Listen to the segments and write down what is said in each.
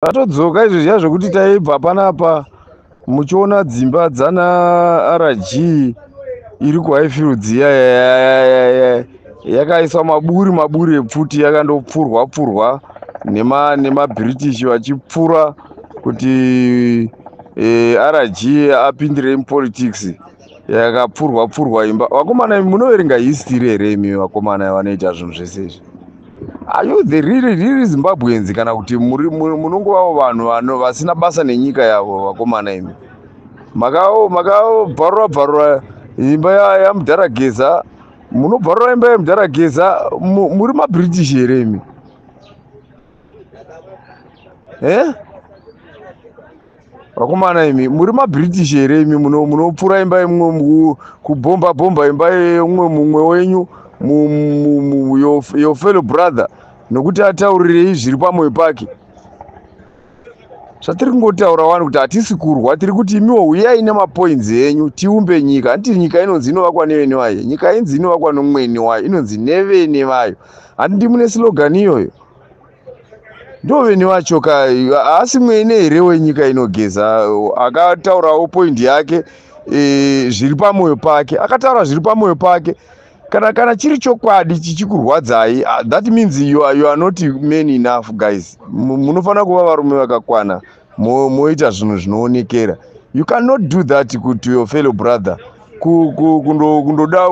Tatodzoka izvo zviya zvekuti taibva panapa muchiona dzimba dzana RG iri kuHighfield dziya yakaiswa maburi maburi epfuti yakandopfurwa pfurwa nema nemaBritish vachipfura kuti eh, RG apindire mupolitics. yakapfurwa pfurwa imba vakomana munoverenga history here imi vakomana vanoita zvinhu zvese izvi are you the really really zimbabweans kana kuti munongovavo vanhu vasina basa nenyika yavo vakomana imi makabvarura bvarura imba yamudhara geza munobvarura imba yamudhara geza muri mabritish here imi eh? vakomana imi muri mabritish here imi munopfura imba yemumwe kubhomba bhomba imba yeumwe mumwe wenyu your fellow brother nokuti ataurirei zviri pamwoyo pake zvatiri kungotaura wani kuti hatisi kurwa tiri kuti imiwo huyai nemapoints enyu tiumbe nyika handiti nyika inonzi inovakwa nevene vayo nyika inzi inovakwa nomweni wayo inonzi nevene vayo handiti mune slogan iyoyo ndoveni wacho ka haasi mwene here wenyika inogeza akataurawo poindi yake e, zviri pamwoyo pake akataura zviri pamwoyo pake kana kana chiri chokwadi chichikurwadzai ah, that means you are, you are not man enough guys munofanira kuva varume vakakwana moita zvinhu zvinoonekera you cannot do that to your fellow brother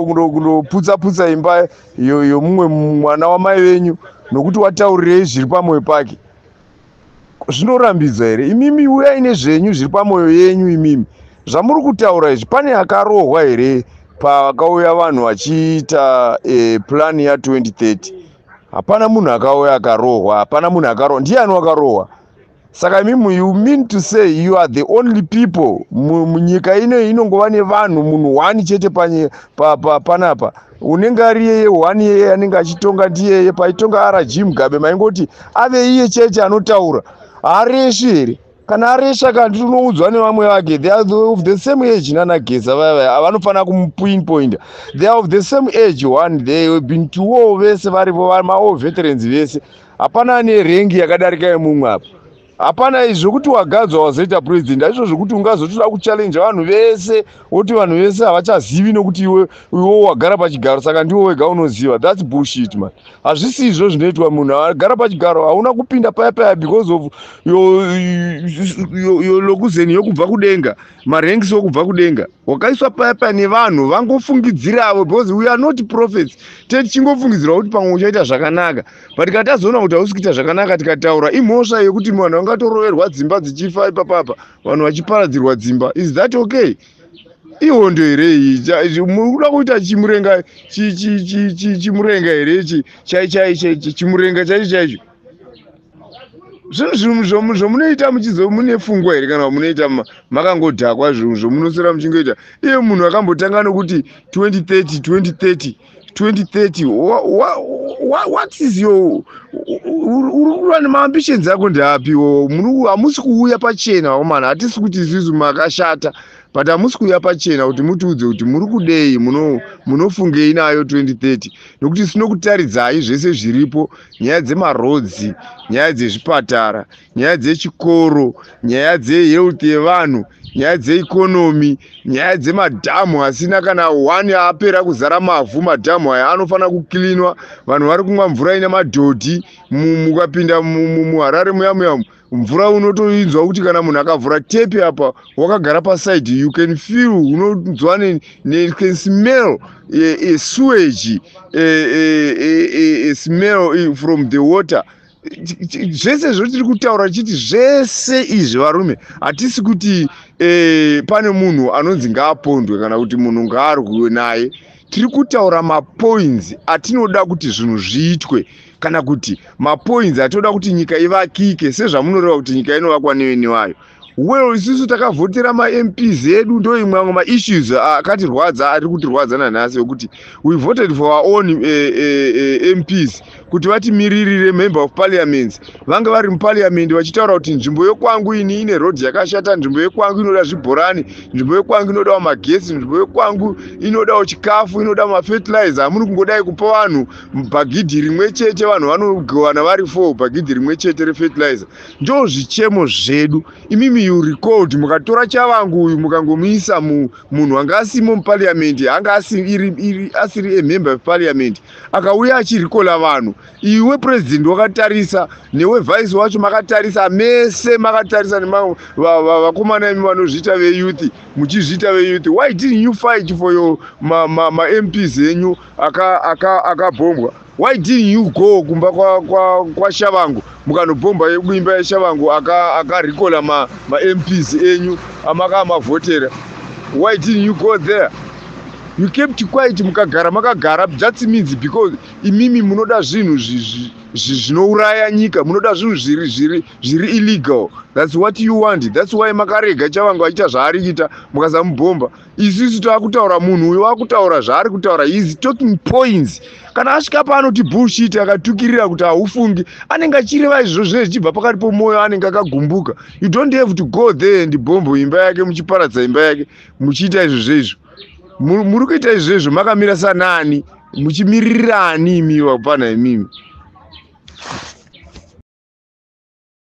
kundoputsa putsa imba yomumwe mwana wamai venyu nokuti wataurirei zviri pamwoyo pake zvinorambidza here imimi uyai nezvenyu zviri pamwoyo yenyu imimi zvamuri kutaura izvi pane akarohwa here pakauya vanhu vachiita e, plan ya 2030 hapana munhu akauya akarohwa hapana munhu akarohwa ndiani wakarohwa saka imimu you mean to say you are the only people munyika ino inongova nevanhu munhu one chete panapa pa, pa, pa, unenge ari yeye one yeye anenge achitonga ndiyeye paitonga rg mugabe maingoti ave iye chete anotaura haareshi here kana aresha kana tinoudzwa nevamwe vake they are of the same age nanageza vaya vaya avanofanira kumupinpointa they are of the same age one they have been to war vese varivo maoveterans vese hapana ane rengi yakadarika yemumwe apa hapana izvi zvekuti wagadzwa wazoita president aizvo zvekuti ungazotoda kuchallenja vanhu vese woti vanhu vese havachazivi nokuti iwe iwo wagara pachigaro saka ndiwo wega unoziva thats bullshit man hazvisi izvo zvinoitwa munhu agara pachigaro hauna kupinda paya paya because of yolokuzeni yokubva kudenga maranks okubva kudenga wakaiswa paya paya nevanhu vangofungidziravo because we are not prophets teti chingofungidzirwa kuti pamwe uchaita zvakanaka but kana tazoona kuti hausi kuita zvakanaka tikataura imhosva yekuti vanhu vangatoroverwa dzimba dzichifa ipapapa vanhu vachiparadzirwa dzimba is that okay ihondo here iyi mukuda kuita chimurenga chimurenga here ichi chimurenga chaicho chaicho zvinhu zvinhu zvomunoita muchizo mune fungwa here kana munoita makangodhakwa zvinhu zvomunosera muchingoita iye munhu akambotanga nokuti 2030 2030 2030 wha, wha, wha, what is your urikuva nemaambitions ako ndeapiwo hamusi kuuya pachena vakomana hatisi kuti isusu makashata but hamusi kuuya pachena kuti mutiudze kuti muri kudei munofungei nayo 2030 nokuti sinokutaridzai zvese zviripo nyaya dzemarodzi nyaya dzezvipatara nyaya dzechikoro nyaya dzehealth yevanhu nyaya dzeikonomi nyaya dzemadhamu asina kana one apera kuzara mavhu madhamu aya anofanira kuklinwa vanhu vari kumwa mvura ine madhodhi mukapinda muharare muyamuyamu mvura unotoinzwa kuti kana munhu akavhura tepi apa wakagara paside you can feel unonzwa can smell a sewage a smell from the water zvese zvotiri kutaura tichiti zvese izvi varume hatisi kuti eh, pane munhu anonzi ngaapondwe kana kuti munhu ngaarwiwe naye tiri kutaura mapoints atinoda kuti zvinhu zviitwe kana kuti mapoints atinoda kuti nyika ivakike sezvamunoreva kuti nyika inovakwa neveni vayo well isusu takavhotera mamps edu ndo imwe amwe maissues akatirwadza ari kutirwadza nanhasi wekuti we voted for our own uh, eh, uh, eh, uh, eh, mps kuti vatimiririre member of parliament vange vari muparliament vachitaura kuti nzvimbo yekwangu ini ine road yakashata nzvimbo yekwangu inoda zvibhorani nzvimbo yekwangu inodawo magesi nzvimbo yekwangu inodawo chikafu inoda mafertilizer amuri kungodai kupa vanhu bhagidhi rimwe chete vanhu vanogowana vari four bhagidhi rimwe chete refertilizer ndo zvichemo zvedu imimi you record mukatora chavangu uyu mukangomuisa munhu anga asimo muparliament anga asiri amember eparliament akauya achirikola vanhu iwe president wakatarisa newe vice wacho makatarisa mese makatarisa nevakomana imi vanozviita veyouth muchizviita veyouth why didn't you fight for your mamps ma, ma enyu akabhombwa aka why didn't you go kumba kwa, kwa, kwa shavangu mukanobhomba kuimba yeshavangu akarikola aka ma, ma mps enyu amakaa mavhotera why didn't you go there you kept quiet mukagara makagara that means because imimi munoda zvinhu zvinouraya nyika munoda zvinhu zviri zviri zviri illegal thats what you want thats why makarega chavangu achiita zvaari kuita mukasamubhomba isisu taakutaura munhu uyo wakutaura zvaari kutaura is talking points kana asvika paanoti bullshit akatukirira kuti haufungi anenge achireva izvozvo zvinenge zvichibva pakati pomwoyo anenge akagumbuka you don't have to go there and bombo imba yake muchiparadza imba yake muchiita izvozvo izvo muri kuita izvo izvo makamira sanani muchimiririra ani imiwa kupana imimi